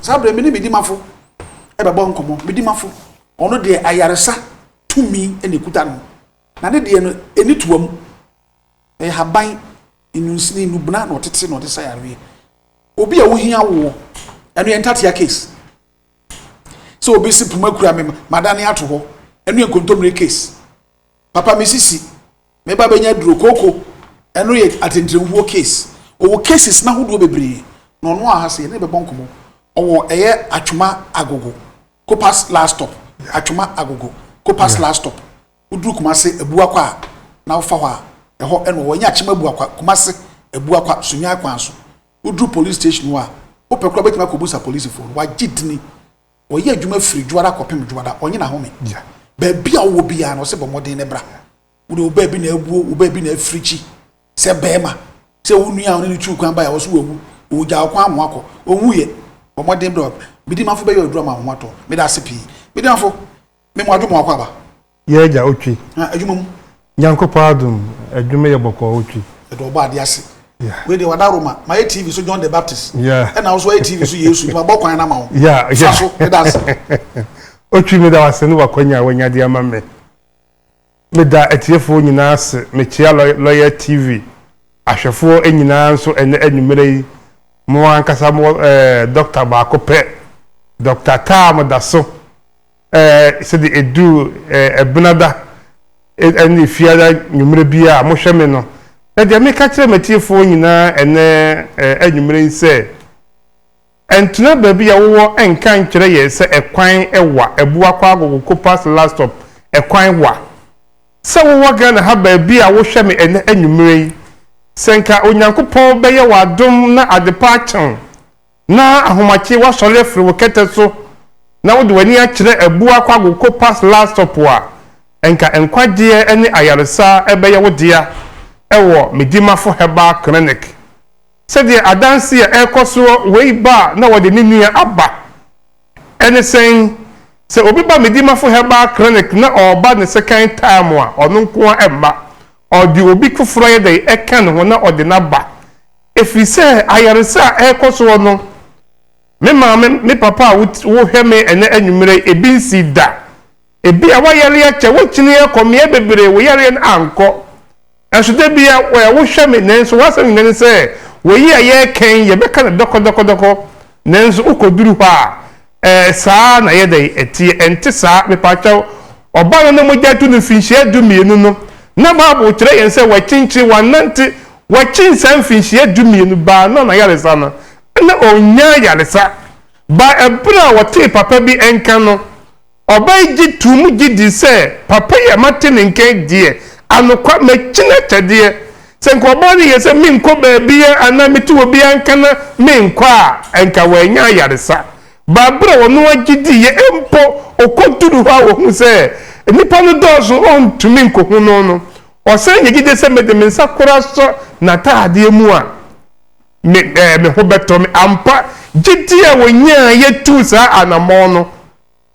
Saa berɛ me ne me dimafo bɛbɔ nkɔmmɔ. Me dimafo, ɔno deɛ ayaresa tumi na ɛkuta no, na ne deɛ no, ɛni toa mu. Ɛyɛ haban, nnunsini, nnubena na ɔtete na ɔde sa yareɛ. Obi a ɔhia awoɔ, ɛno yɛ ntatea case. Sɛ obi se poma kura me, madane ato hɔ, ɛno yɛ nkontommire case. papa me sisi me ba bɛnya duro kooko ɛno yɛ atɛntɛnhuo case ɔwɔ cases na ahodoɔ bebree na ɔno aha sɛ yɛne bɛbɔ nkɔmmɔ ɔwɔ ɛyɛ atwoma agogo kopas last stop atwoma agogo kopas last stop woduru kumase abuakwa a na wofa hɔ a ɛhɔ ɛna ɔwɔ ɛnyɛ akyema abuakwa kumase abuakwa sunyan kwan so woduru police station hɔ a wopɛ kora bɛtumi akɔbusa polisifoɔ no wagye dini Ɔyɛ adwuma firi dwoada kɔpem dwoada, ɔnye n'ahome ntra. Baabi a wowɔ biara no, ɔse bɔ mmɔden na bra. Wode wo baabi na abuo, wo baabi na afirikyi. Sɛ barima, sɛ wo nua a ɔne no tuu kwan baeɛ a, ɔse wawu, ɔgya wo kwan ama woakɔ. Ɔnwuiɛ. Bɔ mmɔden bra. Medimafo bɛyɛ aduru ama wo ho atɔ wo. Meda ase pii. Medimafo, me mmoadwo ma wakɔ aba. Yɛ agya otwi. Na adwuma mu. Nyankopɔn adom adwuma yɛ bɔkɔɔ otwi. Yɛde ɔbɔ adeɛ ase. Yeah. Wei deɛ wada Roma. Ma yɛ TV so John the Baptist. Yeah. Ɛna wo so ayɛ TV so Yesu. Nti ma bɔ kwan na ma wo. Yeah. Sa so. Meda ase. Otwi meda wase ne wakwanya a wanya de ama me. Meda atiefoɔ nyinaa ase. Mekyea Lɔyɛ TV ahwɛfoɔ nyinaa nso ɛnɛ anwummerɛ yi. Mo ankasa mo ɛɛ dɔkta baako pɛ. Dɔkta Taa mo da so. Eh, sɛdeɛ ɛduru eh, ɛbenada eh, ɛne fiada nwummerɛ biara a mohwɛ me no, na deɛ meka kyerɛ m'atiefoɔ nyinaa ɛnɛ eh, anwummerɛ yi sɛ, Ɛntena baabi a wowɔ nka nkyerɛ yɛn sɛ ɛkwan wa, Abua kɔ Agogo Kopa Selastop, ɛkwan wa. Sɛ wowɔ Ghana ha baabi a wohwɛ me ɛnɛ anwummerɛ yi, sɛ nka Onyankopɔn bɛyɛ w'adom na adepa akye wo, Na ahomakye woasɔre afiri wo kɛtɛ so na wode w'ani akyerɛ abu akɔ agoko pas laa sop a, nka nkwagyeɛ ne ayaresa bɛyɛ wo dea wɔ Medimafo Herbal Clinic. Sɛdeɛ adanse a ɛrekɔ soɔ wei ba a na wɔde ne nua aba. Ɛne sɛn? Sɛ obi ba Medimafo Herbal Clinic na ɔreba ne second time a, ɔno nko ara mma. Ɔde obi foforɔ ayɛ dɛn? Ɛka ne ho na ɔde no aba. Ɛfiri sɛ ayaresa a ɛrekɔ soɔ no, me maame, me papa a wohwɛ me ɛnnɛ anwummerɛ yi, ebi nsii da. Ebia woayare akyɛ, woakyini akɔ mmeaɛ bebree, wo yareɛ no ankɔ. Nanso da bia wohwɛ me, nanso w'asɛm nyina ne sɛ, wei a yɛreka yi, yɛbɛka no dɔkɔdɔkɔdɔkɔ, nanso wokɔduru hɔ a, Ɛɛ saa na ɛyɛ dɛn ɛteɛ? Ɛnte saa. Mepakyɛw, Ɔba no ne mogya tu no mfinhyia dumienu no, na Bible kyerɛ yɛn sɛ wakyinkyin, wannante, wakyin saa mfinhyia dumienu, baa no na ayaresa no, na ɔnnya ayaresa. Baa ɛberɛ a ɔtee papa bi nka no. Ɔba yi gye too mu gye dii sɛ, Papa yi a mate ne nka yi deɛ, anokwa, makyin akyɛdeɛ. Sɛ nka ɔbaa no yɛ sɛ menkɔ baabiara anaa metu obiara nka na menkɔ a, anka wannya ayaresa. Baa bere a ɔno ara gye diiɛ mpo, okoduu hɔ a ohuu sɛ nnipa no dɔɔso ontumi nkohu no no, ɔsan nya gyidi sɛ, Mede me nsa koro asɔ n'ataadeɛ mu a, me ɛɛ me ho bɛtɔ me. Ampa, gyidi a onyaeɛ tuu saa anammɔn no.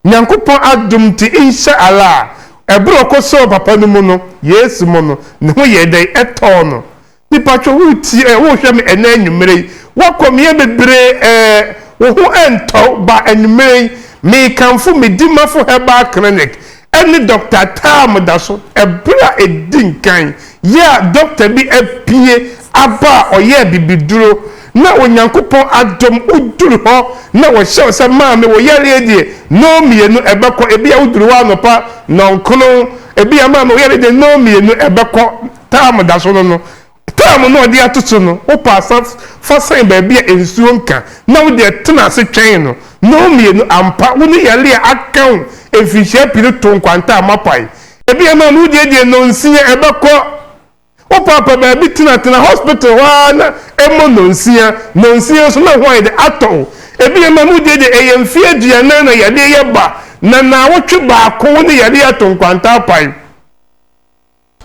Nyankopɔn adom ntsi nhyɛ Allah a, ber a ɔkɔsɔɔw papa no mu no, Yesu mu no, no ho yɛɛ dɛn? Ɛtɔɔ no. Mepatwɔ woretsie ɛ, wohwɛ me ɛnnɛ anwumerɛ yi, woakɔ meyɛ bebree ɛ, wo ho ɛntɔ wo, ba anwumerɛ yi, mekamfo me Dimafo Herbal Clinic ɛne Dɔkta Taa Modaso, ɛber a ɛdi nkan, yɛ a Dɔkta bi apue aba a ɔyɛɛ bibiduro, Na Onyankopɔn adom wo duru hɔ na wɔhyɛ wo sɛ, Maame, wo yareɛ deɛ, nnɔn mmienu ɛbɛkɔ. Ebia woduru hɔ anɔpa, nnɔnkron. Ebia, Maame, wo yareɛ deɛ, nnɔn mmienu ɛbɛkɔ. Term da so no no, term no a ɔde ato so no, wopɛ a san fa sɛn baabi a nsuo nka, na wo deɛ tena ase twɛn no. Nnɔn mmienu, ampa, wo ne yareɛ a aka wo mfirihyia pii no to nkwanta a moapae. Ebia, Maame, wo deɛ deɛ, nnɔnsia ɛbɛkɔ. Wo paapa baabi tena tena hospital hɔ ara na ɛmmɔ nɔnsia nɔnsia nso na ho ayɛ dɛ atɔ wo. Ebi yɛ ma mu deɛ deɛ ɛyɛ mfeɛ aduanan na yadeɛ yɛ ba na naawɔtwe baako wo ne yadeɛ ato nkwanta apae.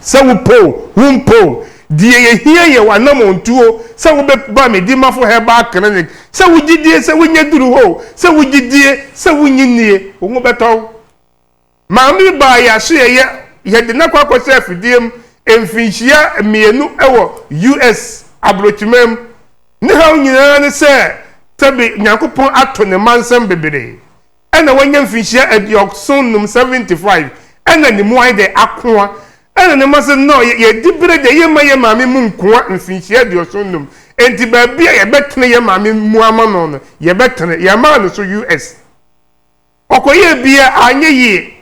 Sɛ wo pɛ o wo mpɛ o deɛ yɛhia yɛ w'anamɔntuo sɛ wo bɛ ba me Dimafo Herbal Clinic sɛ wo gyidie sɛ wo nyɛ duru hɔ o sɛ wo gyidie sɛ wo nyi nie wo ho bɛtɔ wo. Maame baa yɛ asoɛeɛ. Yɛde no akɔ akɔhyɛ afidie mu mfinhyia mmienu wɔ US. aborɔkyiman mu. Ne haw nyinaa ne sɛ sɛbe Nyankopɔn ato ne mma nsam bebree ɛna wanya mfinhyia aduɔson nnum, 75, ɛna ne mu ayɛ dɛ akoa. Ɛna ne mma se no, yɛdi bere deɛ yɛmma yɛ maame mu nkoa mfinhyia aduɔson nnum, enti baabi a yɛbɛtene yɛ maame mu ama no no, yɛbɛtene. Yɛmaa no so US. Ɔkɔyɛɛ bi a anyɛ yie.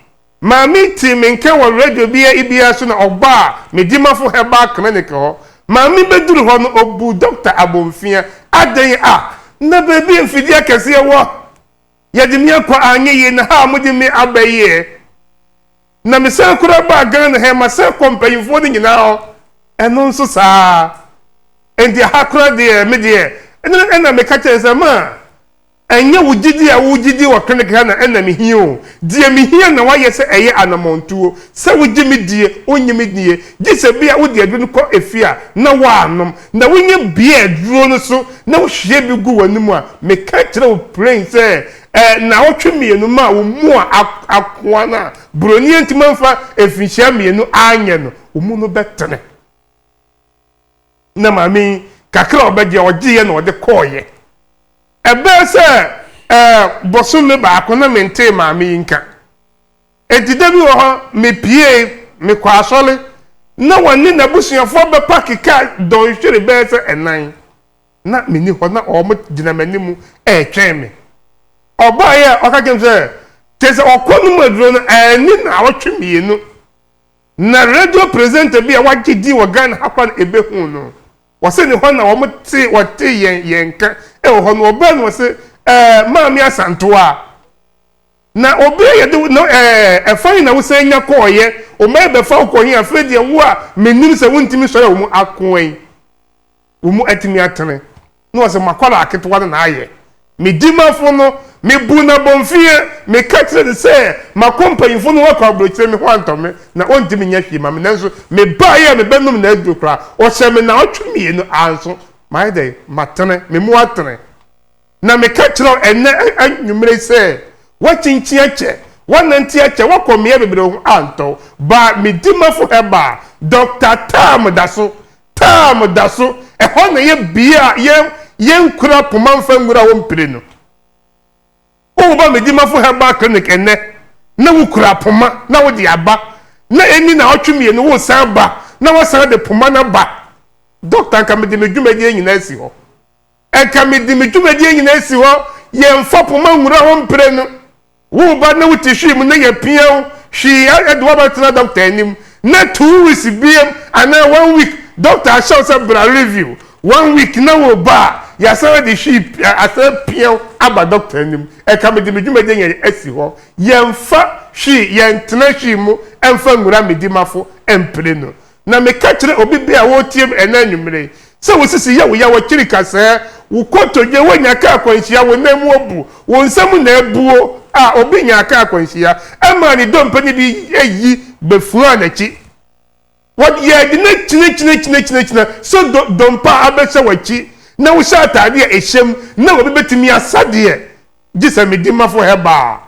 Maame tee me nka wɔ radio bi a bi ase na ɔbaa Medimafo Herbal Clinic hɔ. Maame bɛduru hɔ no, ɔbuu Dɔkta Abomfia. Adɛn a? Na baabi a mfidie akɛseɛ wɔ. Yɛde me akɔ a anyɛ yie na ha a mode me aba yi ɛ? Na mesan koraa baa Ghana ha yi, masan kɔ mpanyimfoɔ no nyinaa hɔ, ɛno nso saa ara. Enti ha koraa deɛ, me deɛ, ɛno na meka kyerɛ no sɛ, Ma! Ɛnyɛ wo gyidi a wogye di wɔ kanakana na ɛna mihia o. Deɛ mihia na woayɛ sɛ ɛyɛ anamɔntuo, sɛ wogye me die, wonnye me die, gye sɛ bi a wode aduro no kɔ efie a na woanom, na wonya bie a aduro no so na wohwie bi gu w'anom a, meka kyerɛ wo pren sɛ ɛɛ naawɔtwe mmienu maa wo mu a akoa no a buroni antumi amfa mfinhyia mmienu anyɛ no, wo mu no bɛtene. na maame yi kakra a ɔbɛgye ɔgyeeɛ na ɔde kɔɔeɛ ɛbɛɛ sɛ ɛɛ bosome baako na mentee maame yi nka enti da bi wɔ hɔ mepiee mekɔ asɔre na wɔne n'abusuafoɔ bɛpake ka dɔnhwere bɛɛ sɛ ɛnan na menni hɔ na wɔn gyina m'anim ɛretwɛn me ɔbaeɛ a ɔka kyɛm sɛ kyɛ sɛ ɔkɔ no mu aduro no ɛɛni na ɔtwe mmienu Na radio presenter bi a wagye din wɔ Ghana ha koraa na ebehuu no. Wɔse ne hɔ na wɔtee wɔtee yɛn yɛn nka wɔ hɔ no. Ɔbaa no wɔse ɛɛ Maame Asantewaa, na obi a yɛde wo na ɛɛ ɛfa he na wosan nya kɔɔeɛ? Wo mma rebɛfa wo kɔ he? Afei deɛ wo a menim sɛ wontumi nsɔre a wɔn ako ɛ? Wo mu atumi atene. Na ɔse, M'akwadaa ketewa no na ayɛ. Me dimafo no, mebuu no abomfiaa. Meka kyerɛɛ no sɛ makɔ mpanyimfo no hɔ akɔ aburokyire, me ho antɔ me, na ontumi nyɛ hwee mma me. Nanso mebaeɛ a mebɛnom n'aduro koraa, ɔhyɛɛ me naawɔtwe mmienu. Anso mayɛ dɛn? Matene. Me mu atene. Na meka kyerɛ wo ɛnnɛ anwummere yi sɛ, Woakyinkyin akyɛ, woanante akyɛ, woakɔ mmeae bebree, wo ho antɔ wo. Baa me dimafo Herbal, Dɔkta Tam da so Taam da so. Ɛhɔ na ɛyɛ bea a yɛn yɛnkura koma mfa nwura hɔ mprenu. Woba Medimafo Herbal Clinic ɛnnɛ na wokura poma na wode aba, na ɛnni naawɔtwe mmienu woresan ba na woasan de poma no aba. Dɔkta, anka mede me dwumadie nyinaa asi hɔ. anka mede me dwumadie nyinaa asi hɔ, yɛmfa poma nwura ho mprenu. Wo ba na wote hwii mu na yɛapia wo hwii de wo abɛtena dɔkta anim na two weeks biam anaa one week dɔkta ahyɛ wo sɛ bra review one week na wo ba a yɛasan ade hwii asan apia wo aba dɔkta anim anka mede me dwumadie nyinaa asi hɔ, yɛmfa hwii yɛntena hwii mu mfa nwura me dimafo mprenu. Na meka kyerɛ obi bɛn a ɔretie me ɛnnɛ anwummere yi sɛ wo sisi yɛ wo ya, w'akyiri kasɛɛ, wo kotodwe, woanya kaa akwanhyia, wo nan mu abu, wo nsa mu na abuo a obi nyaa kaa akwanhyia ɛmaa ne dompe no de ayi bɛfuaa n'akyi. Wɔde yɛde no akyinakyinakyinakyina sɛ do, dompe a abɛhyɛ w'akyi na wohyɛ atadeɛ a ɛhyɛm na obi bɛtumi asa deɛ Gye sɛ me dimafo Heber a.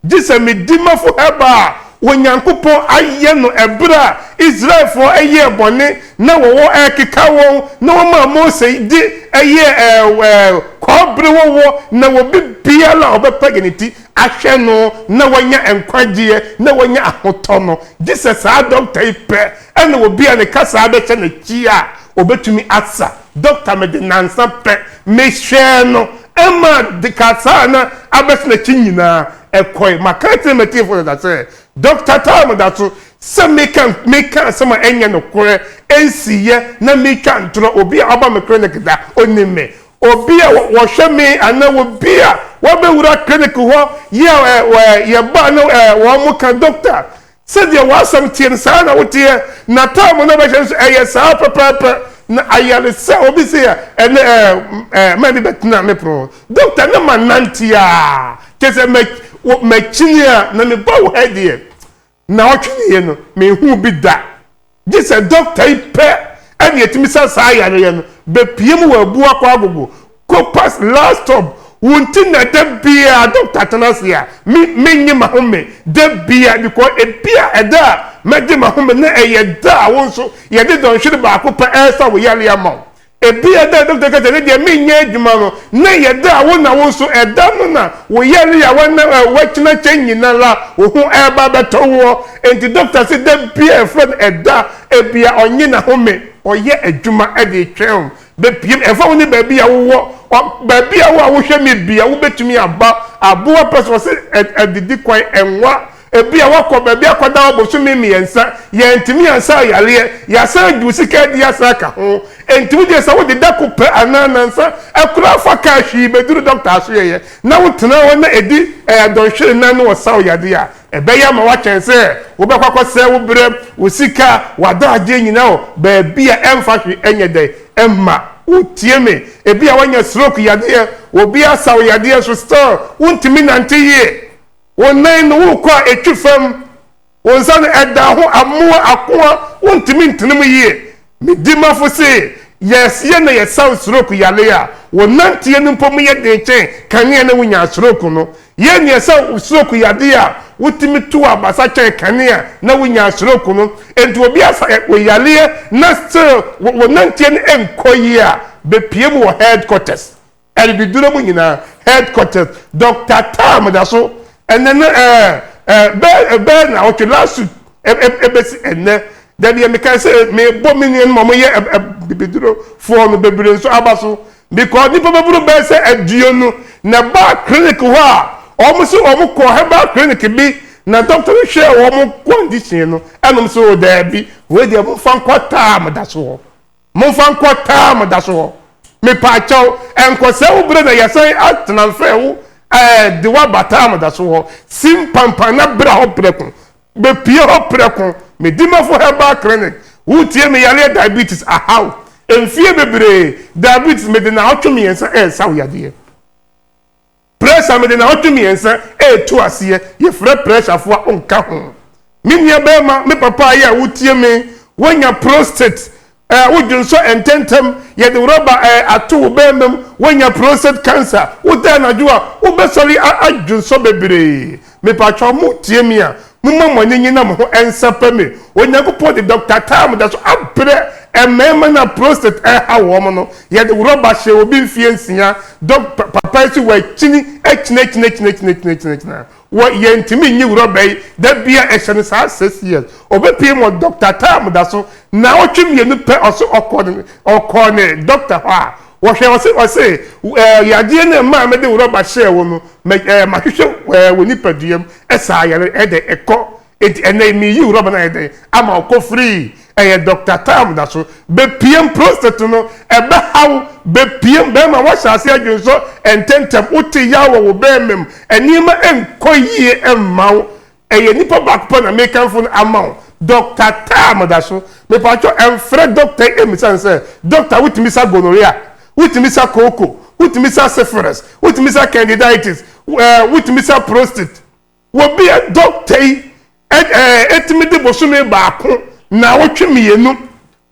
Gye sɛ me dimafo Heber a Onyankopɔn ayɛ no bere a Israelfo yɛɛ bɔne na wɔwɔ rekeka wɔn na wɔmaa Mose de yɛɛ kɔbere wɔwɔ na obi biara a ɔbɛpagya ne ti ahwɛ no na wanya nkwagyeɛ na wanya ahotɔ no. Gye sɛ saa dɔkta yi pɛ na obi a ne kasaa bɛhyɛ n'akyi a ɔbɛtumi asa. Doctor mede nnansa pɛ mehwɛɛ no ma kasaa na abɛsen akyi nyinaa ɛkɔe. Maka akyerɛ m'atiefo dada sɛ Doctor Tam da so sɛ meka meka asɛm a ɛnyɛ nokorɛ nsiiɛ na metwa ntorɔ. Obi a ɔba me clinic da ɔnim me. Obi a wɔhwɛ me anaa obi a wabɛwura clinic hɔ yɛ yɛba na wɔka Doctor Sɛdeɛ w'asɛm teɛ no, saa ara na woteɛ, n'ataamo no a ɔbɛhyɛ nso, ɛyɛ saa ara pɛpɛɛpɛ, na ayaresa a obi se a, ɛnnɛ ɛɛ, ɛɛ, m'ani bɛtena me pono ho, Doctor, na manante ara, kyerɛ sɛ mɛ, wo, makyini ara, na mebaa wo ha yi deɛ, nnaawɔtwe nie no, menhuu bi da. Gye sɛ dɔkta yi pɛ na etumi sa saa yareɛ no, bepue mu wɔ abu akɔ agogo, copas, last stop, wo nti na da biara dɔkta tena ase a me menye mahome da biara because ebia ɛda a mɛgye mahome no ɛyɛ da a wo nso yɛde dɔnhwere baako pɛ ɛresa wo yareɛ ama wo. Ebia da a dɔkta ka sɛ ne deɛ menyɛ adwuma no, na ɛyɛ da a wo na wo nso ɛda no na wo yare a wɔnam a ɛwɔ akyina kyɛ nyinara wo ho ɛreba abɛtɔ woɔ. Enti dɔkta se da bi a yɛfrɛ no ɛda a ebia ɔnnye n'ahome, ɔyɛ adwuma de retwɛn wo bɛpiem. Ɛmfa ho ne baabi a wowɔ, ɔ, baabi a wo a wohwɛ me bia wobɛtumi aba aboa pɛ so. Ɔse ɛ, adidi kwan, ɛnwa Ebia woakɔ baabi akɔda hɔ bosome mmiɛnsa, yɛantumi ansa wo yareɛ, yɛasan de wo sika adi asan aka ho. Enti wogye sɛ wode da koro pɛ anaa nnansa koraa fa kaa hwii bɛduru dɔkta asoɛeɛ na wotena hɔ na ɛdi dɔnhwere nnan na wɔsa wo yadeɛ a, ɛbɛyɛ ama woakyɛn sɛ wobɛkɔ akɔsɛe wo berɛ, wo sika, w'adagyeɛ nyinaa wɔ baabi a ɛmfa hwee nyɛ dɛn mma wo. Tie me, ebia woanya stroke yadeɛ, obi asa wo yadeɛ nso still wontumi nnante yie. Wo nan no wo kɔ a ɛtwi fam, wo nsa no ɛda ho amoa ako a wontumi ntene mu yie. Me dimafo se, Yɛreseɛ na yɛsaw stroke yare a wo nanteɛ no mpo mu yɛ den kyɛn kane a na wunyaa stroke no. Yɛn na yɛsaw stroke yadeɛ a wotumi tu abasa kyɛn kane a na wunyaa stroke no. Enti obi asa wo yareɛ na still wo nanteɛ no nkɔ yie a, bepue mu wɔ headquarters. Adididuro mu nyinaa headquarters Doctor Taa Modaso ɛnɛ no ɛɛ ɛɛ bɛɛ ɛbɛɛ na ɔtwe last week ɛbɛsi ɛnɛ dadeɛ mekae sɛ mebɔ me nua no ma wɔyɛ abibiduro foɔ no bebree nso aba so because nipa bɛboro bɛɛ sɛ aduonu na ɛbaa clinic hɔ a wɔn sɛ wɔn kɔ herbal clinic bi na doctor no hwɛɛ wɔn condition no ɛnom sɛ o daabi wei deɛ mo nfa nkɔ Taa Modaso hɔ Momfa nkɔ taa mo daso hɔ. Mepaakyɛw, ɛnkɔsɛe wo bere na yɛasan atena mfɛɛ wo ɛɛ de wo aba taa mo daso hɔ. Si mpanpan na bra hɔ prɛko. Bepue hɔ prɛko. Me Dimafo Herbal Clinic, Wutie me yareɛ diabetes ahaw. Mfie bebree, diabetes mede naawɔtwe mmiɛnsa ɛɛsa wo yadeɛ. Pressure mede naawɔtwe mmiɛnsa retu aseɛ yɛfrɛ pressure foɔ a ɔnka ho. Me nua barima me papa ayɛ a wotie me woanya prostate ɛɛ wodwonsɔ ntɛntɛm yɛde rubber ɛɛ ato wo barima mu woanya prostate cancer woda anadwo a wobɛsɔre a adwonsɔ bebree Mepatwɔ mo tie me a moma mo ani nye na mo ho nsɛpɛ me Onyankopɔn de Doctor Tam da so abrɛ mmarima no a prostate ɛrehaw wɔn no yɛde rɔba hyɛ obi mfeɛ nsia Doc papa yi so wakyini akyinakyinakyinakyinakyinakyina wɔ yɛntumi nyi rɔba yi da bi a ɛhyɛ no saa six years ɔbɛpie mu Doctor Tam da so naawɔtwe mmienu pɛ ɔso ɔkɔ ɔkɔɔ ne Doctor hɔ a Wɔhwɛ ɔse ɔse eh, yadeɛ no ɛmaa mede wo rɔba hyɛɛ wo no mɛ eh, mahwehwɛ eh, wɔ nipaduam eh, saa yare eh, dɛ ɛkɔ enti ɛnɛ yi meyi wo rɔba no ayɛ dɛn ama wo kɔ free ɛyɛ Doctor Tam da so bɛpiem prostate no ɛbɛhaw bɛpiem bɛrima woahyɛ ase adwensɔ ntɛntɛm wote yaw wɔ wo bɛrima mu nneɛma nkɔ yie mma wo Ɛyɛ nipa baako pɛ na mekamfo no ama wo, Dɔkta Taa Madaso. Mepakyɛw ɛmfrɛ dɔkta yi mmisa no sɛ, Dɔkta wotumi sa gonorrhea? Wotumi sa kooko? Wotumi sa syphilis? Wotumi sa candidiatis? Ɛɛ wotumi sa prostate? Wɔ bi a dɔkta yi ɛɛ tumi de bosome baako, naawɔtwe mmienu.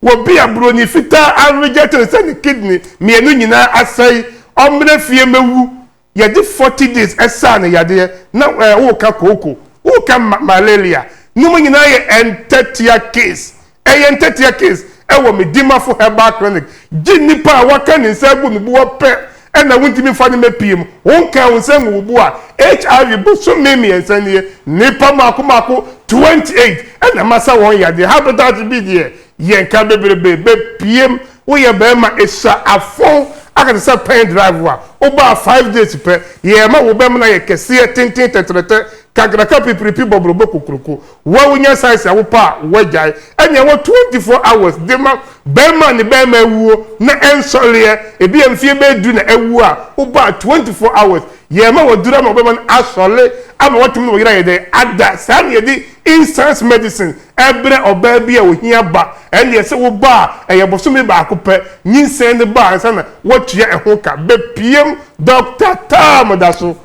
Wɔ bi a broni fitaa a reject no sɛ ne kidney mmienu nyinaa asɛe, ɔmmra fie mmɛwu. yɛde forty days ɛsaa no yadeɛ na ɛɛ woka kooko woka ma malaria ne mu nyinaa yɛ ɛntɛtea case ɛyɛ ɛntɛtea case ɛwɔ me dimafo herbal clinic gye nipa a waka ne nsa agu ne boɔ pɛ ɛna wontumi nfa ne mɛpie mu wonka wo nsa ngu wo boɔ a hiv bosom me mmiɛnsa nie nipa mako mako twenty eight ɛna masa wɔn yadeɛ hepatitis B deɛ yɛnka bebrebe bɛpiem Woyɛ bɛɛma ehyɛ afɔw aka te sɛ pɛn drive a wobaa five days pɛ yɛɛ ma wo bɛmena yɛ kɛseɛ tenten tɛtrɛtɛ kakraka pipiripi bɔbrɔbɔ kokroko woa wonya size a wopɛ a woagyae ɛnea wɔ twenty four hours dema bɛɛma a ne bɛɛma awuo na ɛnsɔreɛ ebia mfie bɛyɛ du na awuo a wobaa twenty four hours yɛɛ ma waduru ama wo bɛma no asɔre ama watumi ne wo yere ayɛ dɛn ada saa na yɛde Instance medicine ɛbrɛ ɔbaa bi a ohia ba, ɛndeɛ sɛ wo ba a ɛyɛ bosome baako pɛ nyinsɛn no ba ansa na woatua ɛho ka, bɛpiem Doctor Tam da so,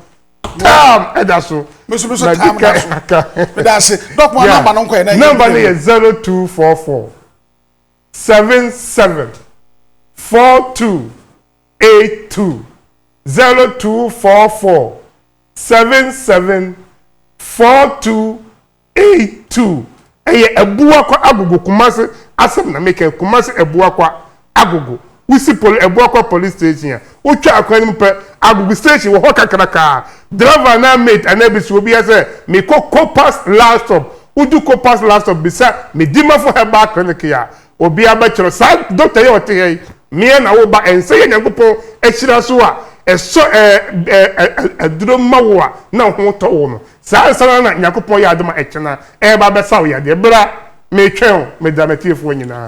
Tam da so, madi kan aka, yeah, number no yɛ zero two four four seven seven four two eight two, zero two four four seven seven four two eight two ɛyɛ abuakwa agogo kumase asɛm na mekɛ kumase abuakwa agogo wosi poli abuakwa police station a wotwa akwan no mu pɛ agogo station wɔ hɔ kakrakaa driver anaa mate anaa bisi obi asɛ mekɔ copas last stop wodu copas last stop bisa medimafo herbal clinic a Obiara bɛkyerɛ saa doctor yi a ɔte ha yi mea na wo ba ɛnsɛ yɛ Nyankopɔn ahyira so a ɛsɔ aduro ma wo a na wo ho tɔ wo no saa ansa no ara na Nyankopɔn yɛ adom a ɛkyena ɛreba abɛsa wo yadeɛ bra metwɛn wo medra matiefoɔ nyinaa.